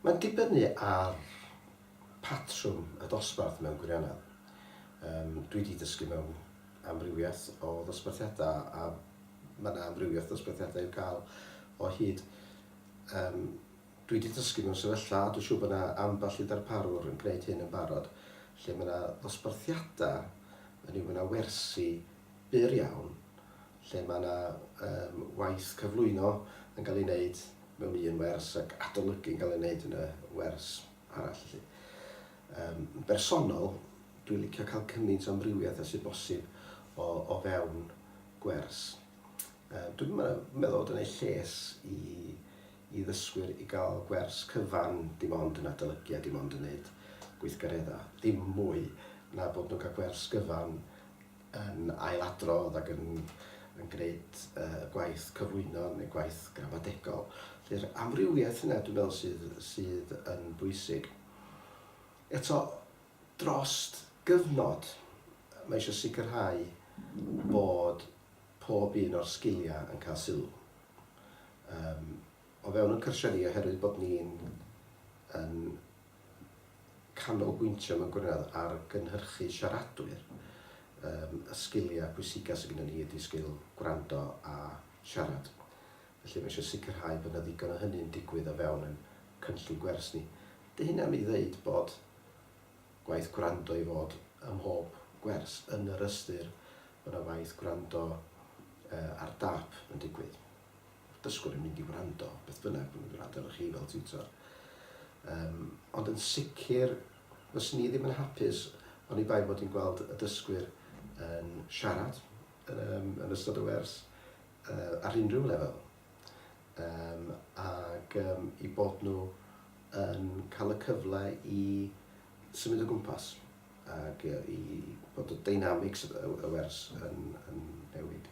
Mae'n dibynnu ar patrwm y dosbarth mewn gwirionedd. Yym, dwi 'di dysgu mewn amrywiaeth o ddosbarthiadau, a ma' 'na amrywiaeth ddosbarthiadau i'w cael o hyd. Yym, dwi 'di dysgu mewn sefyllfa, a dwi'n siŵr bod 'na ambell i ddarparwr yn gwneud hyn yn barod, lle ma' 'na ddosbarthiadau, hynny yw ma' 'na wersi byr iawn, lle mae yna yym waith cyflwyno yn cael ei wneud mewn un wers ac adolygu yn cael ei wneud yn y wers arall felly. Yym yn bersonol, dwi'n licio cael cymaint o amrywiaeth a sydd bosib o, o fewn gwers. Yym dwi'n meddwl bod yn ei lles i, i ddysgwyr i gael gwers cyfan dim ond yn adolygu a dim ond yn wneud gweithgareddau, ddim mwy na bod nhw'n cael gwers gyfan yn ailadrodd ac yn yn gwneud y gwaith cyflwyno neu gwaith gramadegol. Felly'r amrywiaeth yna dwi'n meddwl sydd sydd yn bwysig. Eto, drost gyfnod, mae eisiau sicrhau bod pob un o'r sgiliau yn cael sylw. Yym. o fewn ein cartrefi oherwydd bod ni'n yn canolbwyntio mewn gwirionedd ar gynhyrchu siaradwyr, yym y sgiliau pwysica sy gynnon ni ydi sgil gwrando a siarad. Felly mae eisiau sicrhau bod 'na ddigon o hynny'n digwydd o fewn ein cynllun gwers ni. 'Dy hynna ddim i ddeud bod gwaith gwrando i fod ym mhob gwers, yn yr ystyr bod 'na waith gwrando yy ar dâp yn digwydd. dysgwr yn mynd i wrando beth bynnag bod nhw'n gwrando arnoch chi fel tiwtor. Um, ond yn sicr, fys ni ddim yn hapus ond i bai bod ni'n gweld y dysgwyr yn siarad um, yn ystod y wers uh, ar unrhyw lefel. Um, ac um, i bod nhw yn cael y cyfle i symud o gwmpas ac i bod y dynamics y wers yn, yn newid.